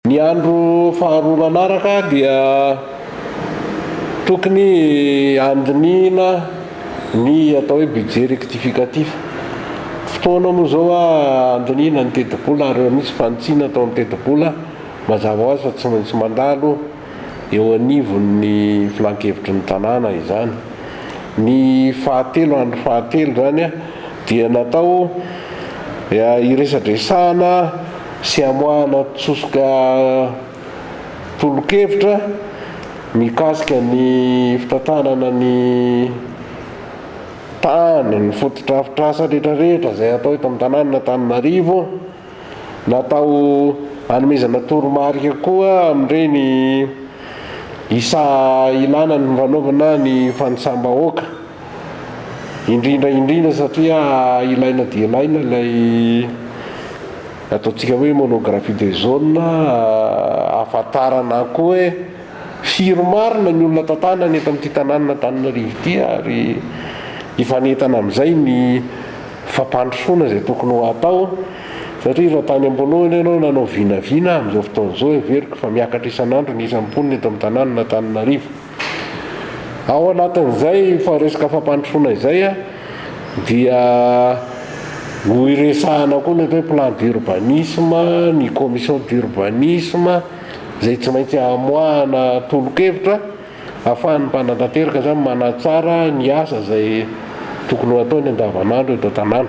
Ny andro faharoa manaraka dia tokony handinihina ny atao hoe budget rectificatif. Fotoana moa izao handinihina ny tetibola ary raha misy fanitsiana atao amin'ny tetibola, mazava ho azy fa tsy maintsy mandalo eo anivon'ny filankevitry ny tanàna izany. Ny fahatelo, andro fahatelo izany dia natao hiresadresahana. sy hamoahana tsosoka tolokevitra mikasika ny fitantanana ny tany, ny fotodrafitrasa retraretra izay atao eto amin'ny tanànan'Antananarivo. Natao hanomezana toromarika koa amin'ireny isa ilana ny fanaovana ny fanisam-bahoaka. Indrindra indrindra satria ilaina dia ilaina ilay ataontsika hoe monographie des zones ahafantarana koa hoe firy marina ny olona tantanana eto amin'ity tanànan'Antananarivo ity ary hifanentana amin'izay ny fampandrosoana izay tokony ho atao satria raha tany am-boalohany ianao nanao vinavina amin'izao fotoana izao heveriko fa miakatra isan'andro ny isan'ny mponina eto amin'ny tanànan'Antananarivo. Ao anatin'izay faharesaka fampandrosoana izay dia ho iresahana koa ny atao hoe plan d'urbanisme, ny commission d'urbanisme izay tsy maintsy hamoahana tolo-kevitra ahafahan'ny mpanantanteraka izany manatsara ny asa izay tokony ho ataony andavanandro eto an-tanàna.